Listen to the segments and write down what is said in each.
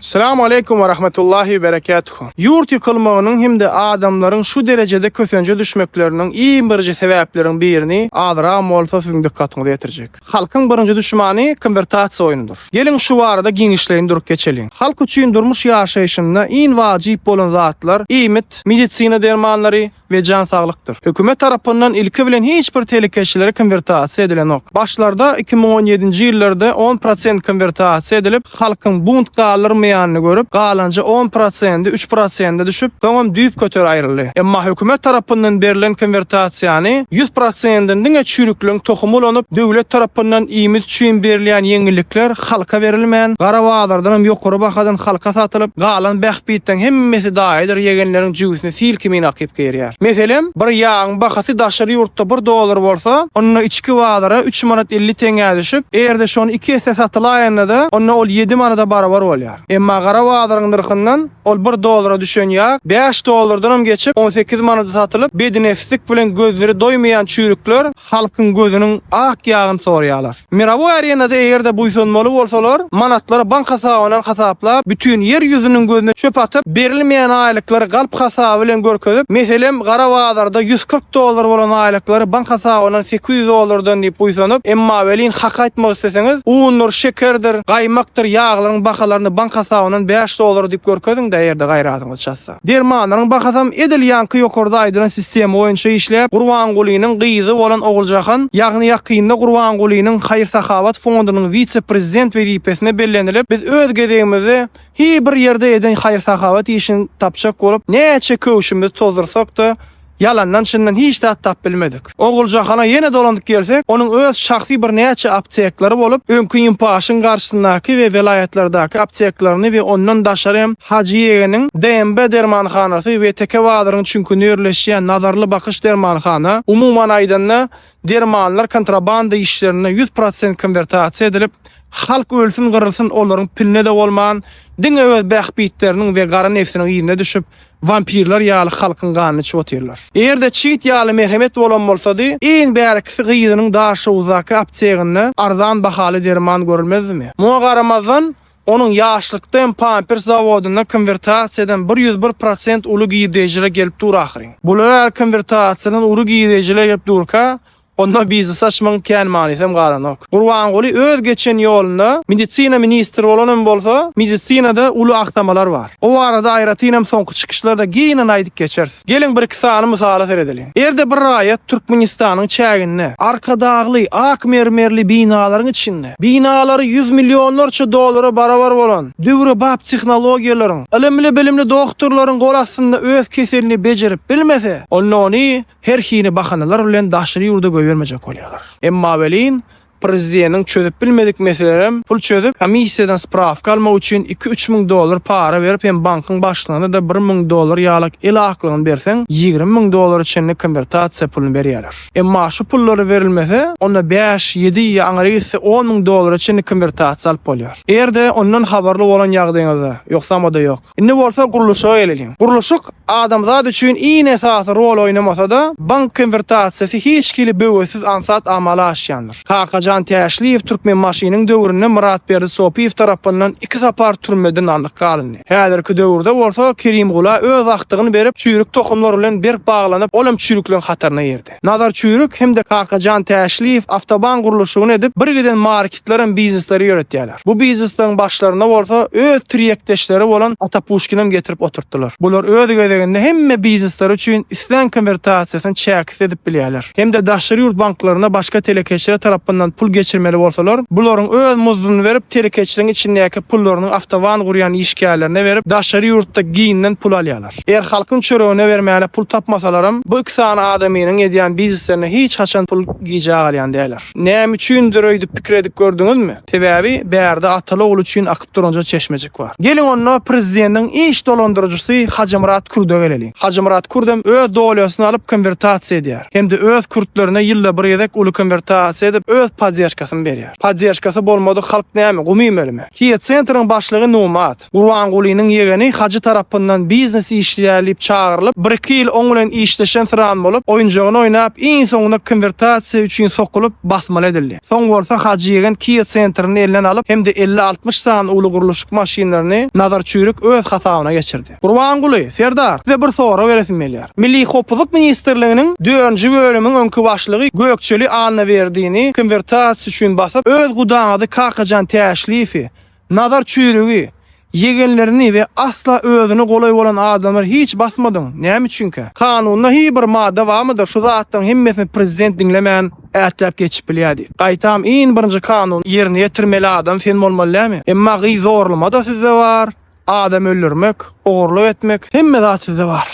Salam aleýkum we rahmetullahi we berekatuhu. Ýurt ýykylmagynyň hem-de adamlaryň şu derejede kösenje düşmekleriniň iň birinji sebäpleriň birini azyram bolsa siziň dykgatyňyza ýetirjek. Halkyň birinji düşmani konwertasiýa oýnudyr. Geliň şu barada giňişleýin durup geçeliň. Halk üçin durmuş ýaşaýşynda iň wajyp bolan zatlar, iýmit, medisina dermanlary, we jan saglykdyr. Hökümet tarapyndan ilki bilen hiç bir telekeçilere konwertasiýa edilenok. Başlarda iki müň on ýedinji ýyllarda on prosent konwertasiýa edilip, halkyň bunt galdyrmaýanyny görüp, galanja on prosendi üç prosende düşüp, soňam düýpgöter aýryldy. Emma hökümet tarapyndan berlen konwertasiýany ýüz prosendini diňe çüýrükleň tohumy ulanyp, döwlet tarapyndan iýmit üçin berilýän ýeňillikler halka berilmän, gara bazardanam ýokary bahadan halka satylyp, galan bähbitleň hemmesi daýydyr ýegenleriň jübüsine sil kimin akyp girýär. Meselem, bir ýagyň bahasy daşary ýurtda bir dollar bolsa, onda içki bazara üç manat elli teňňä düşüp, eger-de şony iki esse satylaýanda-da, onda ol ýedi manada barabar bolýar. Emma gara bazaryň nyrhyndan ol bir dollara düşen ýag bäş dollardanam geçip, on sekiz manada satylyp, bednepslik bilen gözleri doýmaýan çüýrükler halkyň gözüniň ak ýagyny sorýarlar. Mirowoý arenada eger-de buýsanmaly bolsalar, manatlary bank hasabyna hasaplap, bütin ýer ýüzüniň gözüne çöp atyp, berilmeýän aýlyklary galp hasaby bilen görkezip, meselem, gara bazarda ýüz kyrk dollar bolan aýlyklary bank hasabyndan sekiz ýüz dollardan diýip buýsanyp, emma welin hak aýtmak isleseňiz, undur, şekerdir, gaýmakdyr ýaglaryň bahalaryny bank hasabyndan bäş dollar diýip görkeziň-de eger-de gaýratyňyz çatsa. Dermanlaryň bahasam edil ýaňky ýokarda aýdylan sistema boýunça işläp, Gurbangulynyň gyzy bolan Oguljahan, ýagny ýakynda Gurbangulynyň haýyr-sahawat fondunyň wise-prezident wezipesine bellenilip, biz öz gezegimizde hi bir ýerde eden haýyr-sahawat işini tapjak bolup, näçe köwşümizi tozdursak-da, Ýalandan çyndan hiç zat tap bilmedik. Oguljahana ýene dolanyp gelsek, onuň öz şahsy bir näçe apteklary bolup, öňki Inpaşyň garşysyndaky we welaýatlardaky apteklaryny we ondan daşary hem Hajy Ýegeniň DMB dermanhanasy we Teke bazaryň çüňkünde ýerleşýän Nazarly bakyş dermanhana, umuman aýdanda, dermanlar kontrabanda işlerinde ýüz prosent konwertasiýa edilip, halk ölsün-gyrylsyn olaryň piline-de bolman, diňe öz bähbitleriniň we gara nebsiniň yzyna düşüp, Wampirler ýaly halkyň ganyny içip otyrlar. Eger-de çigit ýaly merhemet bolan bolsady, iň bärkisi gyzynyň Daşoguzdaky apteginde arzan bahaly derman görülmezdimi? Muňa garamazdan, onuň ýaşlykda hem pampers zawodynda konwertasiýadan bir ýüz bir prosent uly girdeýjiler gelip dur ahyryn. Bular ýaly konwertasiýadan uly girdeýjiler gelip durka, Onda biznes açmagyň kän manysam galanok. Gurbanguly öz geçen ýolunda medisina ministri bolanam bolsa, medisinada uly aksamalar bar. O barada aýratynam soňky çykyşlarda giňden aýdyp geçeris. Geliň bir-iki sany mysala seredeliň. Erde bir raýat Türkmenistanyň çäginde, Arkadagly, ak mermerli binalaryň içinde, binalary ýüz millionlarça dollara barabar bolan, döwrebap tehnologiýalaryň, ylymly-bilimli doktorlaryň gol astynda öz keselini bejerip bilmese, onda ony her hili bahanalar bilen daşary ýurda goýbermejek bolýarlar. Emma welin, prezideniň çözüp bilmedik meselelerem pul çözüp, komissiýadan sprawka almak üçin iki-üç müň dollar para berip hem bankyň başlygyna-da bir müň dollar ýalak el aklygyny berseň, ýigrimi müň dollara çenli konwertasiýa puluny berýärler. Emma şu pullary berilmese, onda bäş, ýedi ýa aňry gitse on müň dollara çenli konwertasiýa alyp bolýar. Eger-de ondan habarly bolan ýagdyýyňyzda, ýogsam-a-da ýok. Indi bolsa gurluşyga geleliň. Gurluşyk adamzat üçin iň esasy rol oýnamasa-da, bank konwertasiýasy hiç hili böwetsiz aňsat amala aşýandyr. Kakajan Täşliýew Türkmenbaşynyň döwründe Myratberdi Sopyýew tarapyndan iki sapar türmeden alnyp galyndy. Häzirki döwürde bolsa Kerimgula öz agtygyny berip, çüýrük tohumlar bilen berk baglanyp, olam çüýrükleň hataryna girdi. Nazar Çüýrük hem-de Kakajan Täşliýew awtoban gurluşygyny edip, bir giden marketlerem biznesleri ýöretýärler. Bu biznesleriň başlaryna bolsa öz tirýekdeşleri bolan Ata Puşkinem getirip oturtdylar. Bular öz gezeginde hemme biznesleri üçin islän konwertasiýasyny çäksiz edip bilýärler. Hem-de daşary ýurt banklaryna başga telekeçiler tarapyndan pul geçirmeli bolsalar, bularyň öz muzduny berip, telekeçiligiň içindäki pullaryny awtoban gurýan işgärlerine berip, daşary ýurtda giňden pul alýarlar. Eger halkyň çöregine bermäne pul tapmasalaram, bu iki sany adamynyň edýän bizneslerine hiç haçan pul gijä galýan däldir. Näme üçindir öýdüp pikir edip gördüňizmi? Sebäbi bärde ataly-ogul üçin akyp duranja çeşmejik bar. Geliň onda prezidentiň iş dolandyryjysy Hajymyrat Kürde geleliň. Hajymyrat Kürdem öz dolýasyny alyp konwertasiýa edýär. Hem-de öz kürtlerine ýylda bir gezek uly konwertasiýa edip öz poddežkasyny berýär. Poddežkasy bolmadyk halk näme, gum iýmelimi? Kia-Centeriň başlygy Numat. Gurbangulynyň ýegeni Hajy tarapyndan biznes işleýär diýip çagyrylyp, bir-iki ýyl oň bilen işleşen syran bolup, oýunjagyny oýnap, iň soňunda konwertasiýa üçin sokulyp, basmaly edildi. Soň bolsa Hajy ýegen Kia Centr-ni elinden alyp, hem-de elli-altmyş sany uly gurluşyk maşynlaryny Nazar Çüýrük öz hasabyna geçirdi. Gurbanguly, Serdar, size bir sorag beresim gelýär. Milli howpsuzlyk ministrliginiň dördünji bölümiň öňki başlygy Gökçeli Annaberdini konwertasiýa üçin basyp, öz gudaňyzy Kakajan Täşliýewi, Nazar çüýrügi, ýegenlerini we asla özüne golaý bolan adamlary hiç basmadyň, näme üçinkä? Kanunda hi bir madda barmydyr şu zatlaryň hemmesini prezident diňlemän ätläp geçip bilýär diýip. Gaýtam iň birinji kanuny ýerine ýetirmeli adam sen bolmaly dälmi? Emma gyz zorlama-da sizde bar, adam öldürmek. Ogurlyk etmek hemme zat sizde bar.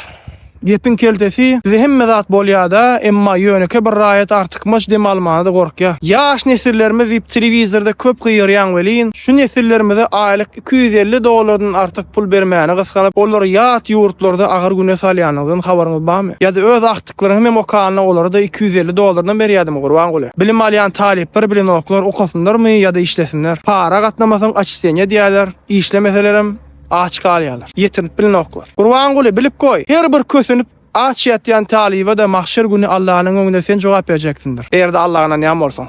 Gepiň keltesi sizde hemme zat bolýada emma ýöneke bir raýat artykmaç dem almana-da gorkýa. Ýaş nesillerimiz diýip telewizorda köp gygyrýaň welin, şu nesillerimize aýlyk iki ýüz elli dollardan artyk pul bermäni gysganyp, olary ýat ýurtlarda agyr güne salýanyňyzdan habaryňyz barmy? Ýa-da öz agtyklaryňam hem okanda olara-da iki ýüz elli dollardan berýädimi Gurbanguly? Bilim alýan talyplar bilenoklar okasynlarmy ýa-da işlesinler. Para gatnamasaň açistenýa diýýäler, işlemeselerem aç galýarlar, ýetinip bilinoklar. Gurbanguly, bilip goý, her bir kösenip, aç ýatýan talyba-da mahşer güni Allanyň öňünde sen jogap berjeksindir, eger-de Alla ynanýan bolsaň.